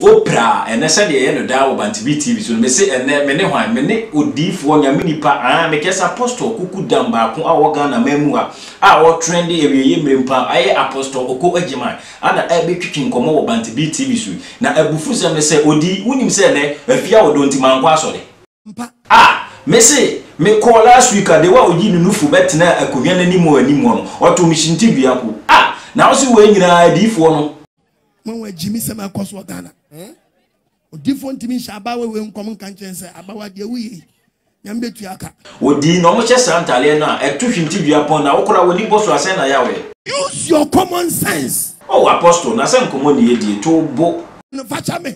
Oprah, ɛnnɛ sɛdeɛ ɛyɛ no daa wɔ Bantv TV so no, mese ɛnnɛ mene hwan? Mene odiyifoɔ, Nyame nipa, aah, mekɛse Apostle Kuku Dam baako a ɔwɔ Ghana man mu ha a ɔɔtrende awieeɛ mmerɛ mpo a ɛyɛ Apostle Oko Agyemang a na ɛɛbɛtwitwi nkɔmmɔ wɔ Bantv TV so yi. Na abufusɛm ne sɛ, ɔdii, wonim sɛ ɛnnɛ afie a ɔdɔ nti mankɔ asɔre? Ah! Mese mekɔɔ last week a, dewa a ɔyii ne nufu bɛtenaa akonwa no anim hɔ anim hɔ no, ɔtoo me hyintidua mpo, ah! Na wose wei nyinaa adiyifoɔ no. Mo wɔn agyimisɛm a ɛkɔ so wɔ Ghana. Eh? Odifoɔ ntumi nhyɛ abaawa wei nkɔm nka nkyɛn sɛ abaawa deɛ woyɛ yi, nyame bɛtua aka. Wodii na wɔhyɛ saa ntadeɛ no a ɛto hintidua pɔn na wokora w'ani bɔ so a sɛn na ɛyɛ a woyɛ? Use your common sense. Oh, Apostle, na sɛ nkɔmmɔ ne yɛdie to wo bo. No, fakyɛ me.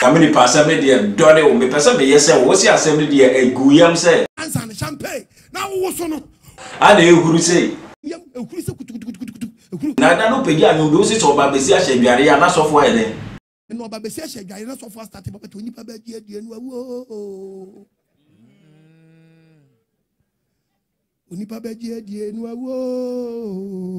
Nyame nipa asɛm no deɛ dɔne o mepɛ sɛ meyɛ sɛ wo se asɛm no deɛ ɛgu yam sɛ. Ansa no champagne na wowo so no. A na ɛhuru sei. Yam ɛhuru sɛ kutukutukutukutu ɛhuru. Na da no pagya nwom bi wo se sɛ ɔba bɛsi ahyɛ adwareɛ a na sɔfo ayɛ dɛn. Na ɔba bɛsi ahyɛ adwareɛ na sɔfo astate papa to onipa bɛ adua adua no awu oo. Onipa bɛ adua adua no awu oo.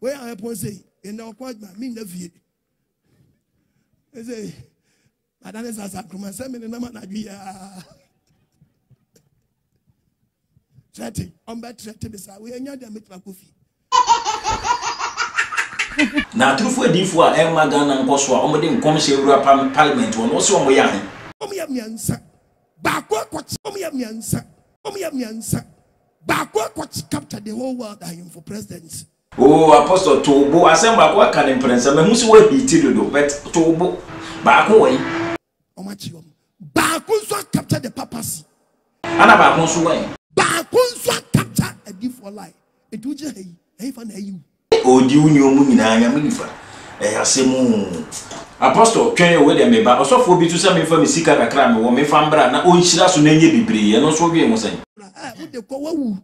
Wei a ɛpɔn sɛ yi, ɛnna ɔkɔ adwuma, mennya fie. Ɛsɛ ada ne sasa nkroma sɛ mene nam anadwo yaa. Trɛte, ɔmbɛ trɛte me saa, wei ɛnya deɛ mɛtumi akɔ fie. Na atorofo adiyifo a ɛmma Ghana nkɔ so a wɔde nkɔmhyɛ awura parliament hɔ no, wose wɔn yɛ ahe? Wɔn yɛ mmiɛnsa, baako akɔkyea. Wɔn yɛ mmiɛnsa, wɔn yɛ mmiɛnsa, Baako akɔ capture the whole world ahemfo presidents. Ooh Apostle to wo bo asɛm baako waka no mprɛnsa mahu sɛ wo heati dodo but to wo bo baako wɔ yi. Wɔn akyi wɔn. Baako nso a capture the papacy. Ana baako nso wɛn. Baako nso a capture adifoɔ lie. Enti wo gyina ha yi ɛhefa na ayi wo. Ɔredi wo nneɛma mu nyinaa, Nyame nifa, ɛyɛ asɛm oo. Apostle, twɛn o, wei deɛ meba. Ɔsɔfoɔ bi nso sɛ memfa me sika kakra a mewɔ memfa mbra na ɔnhyira so na ɛnyɛ bebree, ɛno nso wodwen ho sɛn? Ɛ, wode kɔ, wawu.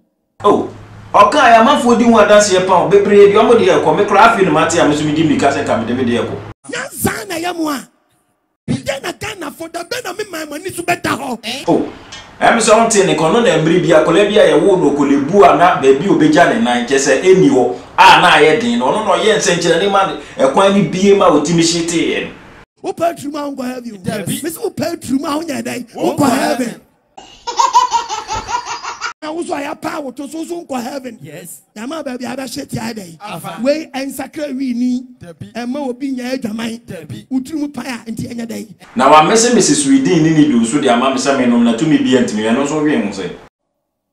Oh, ɔkaaɛ, amanfoɔ di ho adanseɛ pa o, bebree deɛ wɔn deɛ rekɔ, me koraa afei na mate a me nso medi mmirika sɛ nka mede me deɛ rekɔ. Nyansa na ɛyɛ mo a Dɛn na Ghanafo, da bɛn na me man, mo ani so bɛda hɔ? Eh. Oh, ɛm sɛ wontee ne kɔ no na mmere bi akwadaa bi a yɛwoo no Okolebu a na baabi a obegya ne nan kyɛ sɛ enni hɔ a na ayɛ den no ɔno na ɔyɛɛ nsɛnkyerɛnne ma ɛkwan no bue ma otumi hyeteeɛ no. Wo paa turum a wo nkɔ heaven o. Dabi. Mese wo paa turum a wo nyɛ dɛn? Wo nkɔ heaven. na wo so a yɛapaa wo to so so nkɔ heaven yɛama baabi a bɛhye tia dɛ wei ɛnsakra wii ni ɛma obi nyɛ adwaman wotiri mu pae a nti ɛnyɛ dɛn Na wamesemese Sweden ne Nido nso de ama me sɛ mennom na tumi biara ntumi, ɛno nso wee ho sɛ.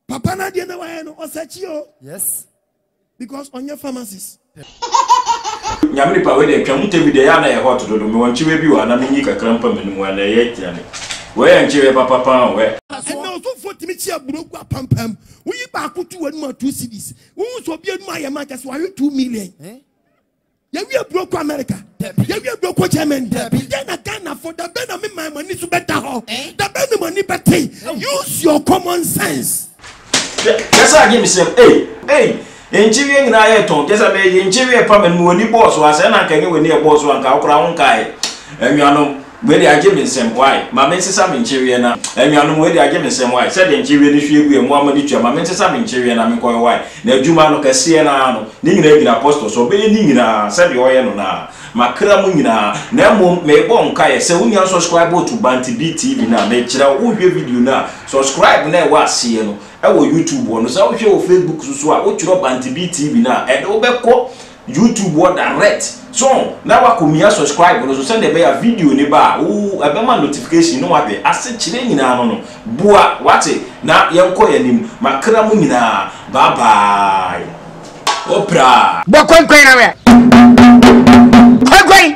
Papa no adeɛ na wayɛ no ɔsakyi o. Yes. because ɔnyɛ pharmacist. Nyame nipa wei deɛ twam ntɛm bi deɛ ɛyɛ a na ɛyɛ hot dodo mewɔ nkyeweɛ bi wɔ ha na menyi kakra mpa m'anim wɔ ha na ɛyɛ aduane wei yɛ nkyeweɛ papa paa o wɛ. Ɛnna ɔsomfoɔ tumi kyi aburo gu apampaa mu. Woyi baako to w'anum a two cedis. Wohu sɛ obi anum ayɛ ma kyɛ sɛ wahwe two million. Yɛwie aburo kɔ America. Yɛwie aburo kɔ Germany. Yɛn na Ghanafo da bɛn na me man mo ani so bɛda hɔ. Eh? Da bɛn na mo ani bɛte. Use your common sense. Kɛsɛ agye me sɛm ei ei yɛnkyeweɛ nyinaa yɛ tɔn kɛsɛ me yɛnkyeweɛ pa mɛnum w'ani bɔɔ so asɛ na nka nyɛ w'ani ɛbɔɔ so anka wokora wo nkaeɛ anuanom Wei deɛ agye me nsam why? Ma me nsesa me nkyeweɛ na Anuanom wei deɛ agye me nsam why? Sɛdeɛ nkyeweɛ no hwie gu yɛn mmoa ma de tua Ma me nsesa me nkyeweɛ na menkɔyɛ why? Na adwuma no kɛseɛ no ara no Ne nyinaa gyina Apostle so Ɔbɛyɛ ne nyinaa sɛdeɛ ɔyɛ no no ara Makra mu nyinaa Na mmom merebɔ nkaeɛ sɛ wonya nsɔskraibo to Bante Beat TV no a Mekyerɛ wo wohwɛ video no a Sɔskraib no a ɛwɔ aseɛ no wɔ YouTube hɔ no Sɛ wohwɛ wɔ Facebook so nso a wotwerɛ Bante Beat TV no a ɛde wo bɛkɔ YouTube hɔ direct so na wakomia subscribe no so sɛdeɛ ɛbɛyɛ a video ne ba a wo ɛbɛma notification na wahwɛ ase kyerɛ nyinaa no no boa wate na yɛnkɔ yɛn anim makra mu nyinaa bye bye opra. bɔ kɔnkɔn ara kɔnkɔn.